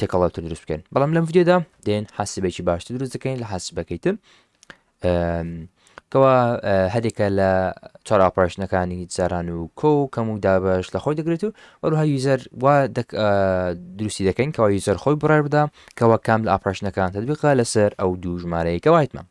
تێکەڵاوتر دروست بکەین بەڵام لەم ڤیددیودا دێن حاسبێکی باشتر دروست دەکەین لە حاسبەکەی تر کەوا هەرێکە لە چۆر ئاپۆشنەکانی جاران و کۆ و کەم و دابش لە خۆی دەگرێت و وەروها یوزەر وا دروستی دەکەین کەوا یوزەر خۆی بڕێ بدا کەوا کام لە ئاپۆشنەکان تدبقا لەسەر ئەو دوو ژمارەیەکە وایتمان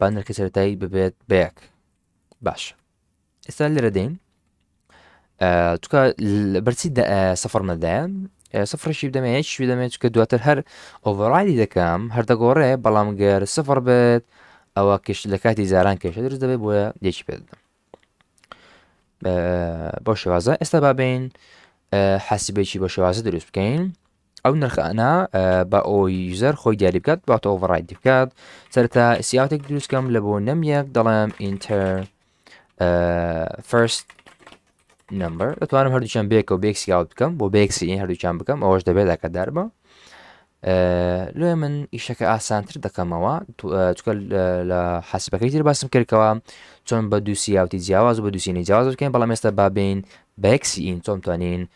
با نرخی سەرەتایی ببێت بەیەک باش ئێستا لێرە دێن چکە بەرچی سەفر نەدایە سفرشی بدەمێ هیچ بدەمێت چکە دواتر هەر ئۆڤڕایدی دەکەم هەر دەگۆڕێ بەڵام گەر سفر بێت ئەوە کشت لە کاتی زاران کێشە درست دەبێت بۆیە یەکی پێ بدەم بۆ شێوازە ئێستا بابین حاسبێکی بە شێوازە دروست بکەین ئەو نرخانە بە ئەو یوزەر خۆی دیاری بکات باتە ئۆڤڕایدی بکات سەرتا سیاتێک دروستکەم لە بۆ نەم یەک دەڵێم ئینتەر فرست نمبر دەتوانم هەردووچەند بێکە و بێک سیاوت بکەم بۆ بێکسی هەردووچان بکەم ئەوەش دەبێت لەکە دەربە لێ من ئیشەکە ئاسانتر دەکەمەوە چکە لە حەسبەکەی تر باسم کردەوە چۆن بە دووسیاوتی جیاواز و بە دووسینی جیاواز بکەین بەڵام ئێستا بابین بەکسی ئین چۆن توانین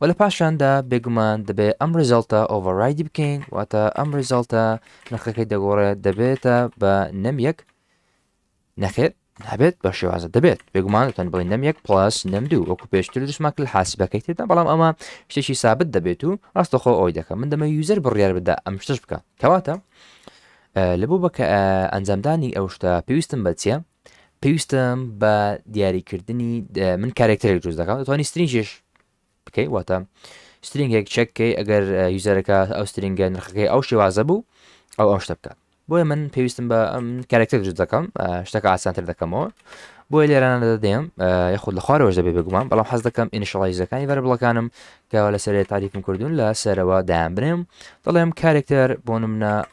و لە پاشاندا بێگومان دەبێت ئەم ڕزالتە ئۆڤەرایدی بکەین واتە ئەم ڕزالتە نرخەکەی دەگۆڕێت دەبێتە بە نەم یەک نەخێر نابێت بە شێوازە دەبێت بێگومانتان بڵێ نەم یەک پلاس نەم دوو وەکو پێشتر دشماک لە حاسبەکەی تێدا بەڵام ئەمە شتێکی سابت دەبێت و ڕاستەخۆ ئەوی دەکەم من دەمە یوزەر بڕیار بدا ئەم شتش بکە کەواتە لە بۆ بەکە ئەنجامدانی ئەو شتە پێویستم بە چیە پێویستم بە دیاریکردنی من کارێکتەرێک دروست دەکەم دەتوانانی سترینجش بکەی واتە سترینگێک چەککەی ئەگەر یوزەرەکە ئەو سترینگە نرخەکەی ئەو شێوازە بوو ئەو ئەو شتە بکات بۆیە من پێویستم بە ئەم کارێکتەر دروست دەکەم شتەکە ئاسانتر دەکەمەوە بۆیە لێرانە دەدەم یاخود لە خوارەوەش دەبێ بگومان بەڵام حەز دەکەم ئینشڵایزەکانی بەر بڵەکانم کەەوە لە سەرێ تاریفم کردوون لە سەرەوە دایان بنێم دەڵێم کارێکتەر بۆ منە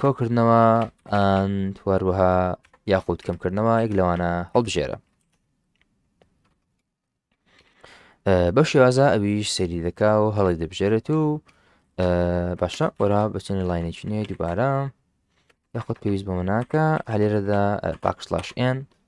کۆکردنەوە ئەن توەروەها یاخود کەمکردنەوە یەک لەوانە هەڵبژێرە بەو شێوازە ئەویش سەری دەکا و هەڵی دەبژێرێت و باشە وەرا بچێنە لاینێکی نوێ دووبارە یاخود پێویست بۆ منناکە هەلێرەدا پاکسلاش ئێن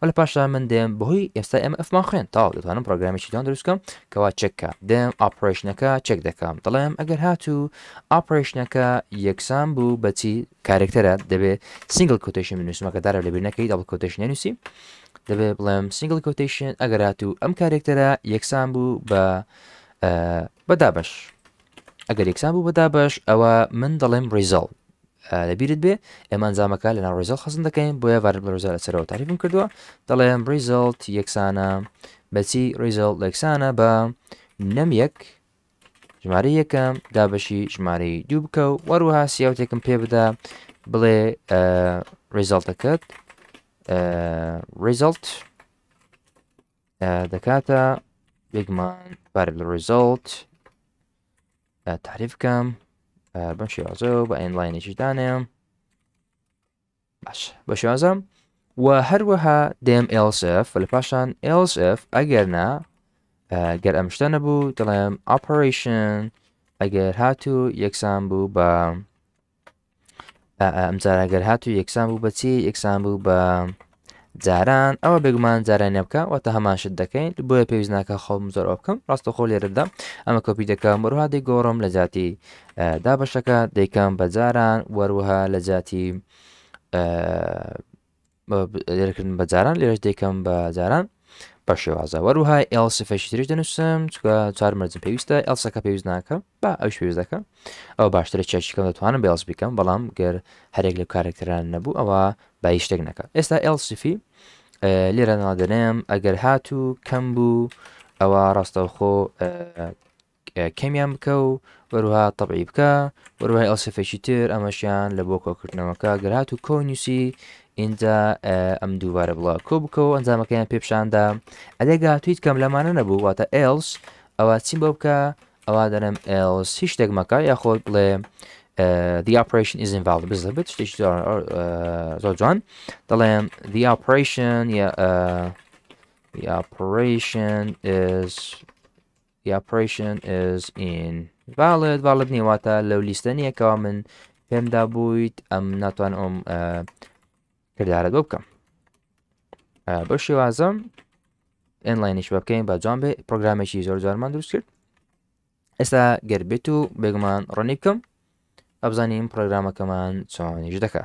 و لە پاشدا من دێم بەهۆی ئێستا ئێمە ئەفمان خوێن تاو دەتوانم پرۆگرامێکی جوان دروستکەم کەوا چەککە دێم ئاپرۆشنەکە چەک دەکەم دەڵێم ئەگەر هاتوو ئاپرۆشنەکە یەکسان بوو بەچی کارێکتەرە دەبێت سنگل کوتشن بنووسمەکە دارە لەبیر نەکەی دەڵ کوتش نووسی دەبێ بڵێم سنگل کوتشن ئەگەر هاتوو ئەم کارێکتەرە یەکسان بوو بە بەدابش ئەگەر یەکسان بوو بەدابش ئەوە من دەڵێم ریزەڵ لە بیرت بێ ئێمە ئەنجامەکە لەناو ڕیزڵ خەزن دەکەین بۆیە ڤارت بە ڕزا لە سەرەوە تاریفم کردووە دەڵێم ڕیزڵت یەکسانە بەچی ڕیزڵ یەکسانە بە نەم یەک ژمارە یەکەم دابەشی ژمارەی دوو بکە و وەروها سیاوتێکم پێ بدا بڵێ ڕیزڵتەکەت ڕیزڵت دەکاتە بێگمان بار لە ڕیزڵت تعریف بکەم بەم شێوازە بە ئەنلاینێکی دانێم باش بە شێوازە و هەروەها دێم LSF لە پاشان LSF ئەگەر نا گەر ئەم شتە نەبوو دەڵێم ئاپەرشن ئەگەر هاتوو یەکسان بوو بە ئەمجارە گەر هات و یەکسان بوو بەچی یەکسان بوو بە جاران ئەوە بێگومان جارانە بکە واتە هەماشت دەکەین بۆیە پێویست ناکە خۆم زۆر ئەو بکەم ڕاستە خۆ لێرەدا ئەمە کۆپی دەکەم وروها دەی گۆڕم لە جاتی دابەشەکە دەیکەم بە جاران وەروها لە جاتی لێرەکردن بە جاران لێرەش دەکەم بە جاران بە شێوازە وەروها ئێڵ سفەشی ترش دەنووسم چکە چار مەرجم پێویستە ئەلسەکە پێویست ناکە با ئەو شوێز دەکەم ئەو باشترە چێکیکەم دەتوانم بێڵس بکەم بەڵام گەر هەرێک لە کارێکتران نەبوو ئەوە با شتێک نەکە ئێستا ئێڵ سفی لێرە نادەنێم ئەگەر هاتوو کەم بوو ئەوە ڕاستەوخۆ کەمیان بکە و وەروها تەبعی بکە وەروای ئەو سفێکی تر ئەمەشیان لە بۆ کۆکردنەوەکە گەرات و کۆ نووسی ئینجا ئەم دووبارە بڵە کۆ بکە و ئەنجامەکەیان پێپشاندا ئەدێ گاتویت کەم لەمانە نەبوو واتە ئێلس ئەوە چیم بۆ بکە ئەوە دەنم ئێلس هیچ شتێک مەکە یاخۆت بڵێ the operation is invalid بزە بێت شتێک زۆر جوان دەڵێم the operation یا the operation is The operation is in valid valid نیە واتە لەو لیستە نییە کەوا من پێمدا بوویت ئەم ناتوان ئەم کردارە بۆ بکەم بە شێوازم ئەنلاینیش بە بکەین بە جوان بێ پرۆگرامێکی زۆر جارمان دروست کرد ئێستا گەر بێت و بێگومان ڕۆنی بکەم ئەبزانین پرۆگرامەکەمان چۆنیش دەکە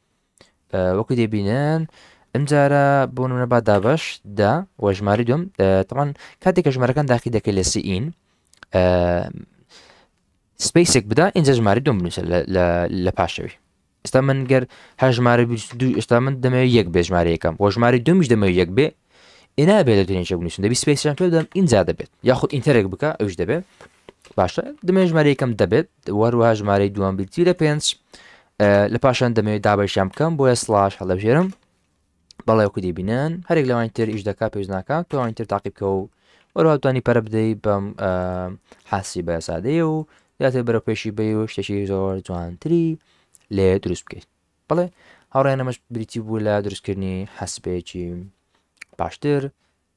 وەکو دەبینن ئەمجارە بۆ نمونە با دابش دا و ژماری دوم تەمان کاتێک کە ژمارەکان داخی دەکەی لە سیئین سپیسێک بدا ئینجا ژماری دوم بنووسە لە پاشەوی ئستا من گەر هەر ژمارە ئستا من دەمەوێت یەک بێ ژمارەیەکەم بۆ ژماری دومیش دەمەوێت یەک بێ ئێنا بێت دەتونین چ بنووسن دەبی سپیسیان پێ بدەم ئینجا دەبێت یاخود ئینتەرێک بکە ئەوش دەبێت باشە دەمێ ژمارە یەکەم دەبێت وەروە ژمارەی دووەم بیتی لە پێنج لە پاشان دەمەوێت دابەشیان بکەم بۆیە سلاش هەڵەبژێرم بەڵێ وکو دەبینن هەرێک لەوانی تر ئیش دەکات پێش ناکات توانی تر تاقیبکە و وەرواتوانی پەرە بدەی بەم حاسی بە سادەیە و یاتێ بەرە پێشی بی و شتێکی زۆر جوانتری لێ دروست بکەیت بڵێ هاوڕێنەمەش بریتی بوو لە دروستکردنی حەسبێکی باشتر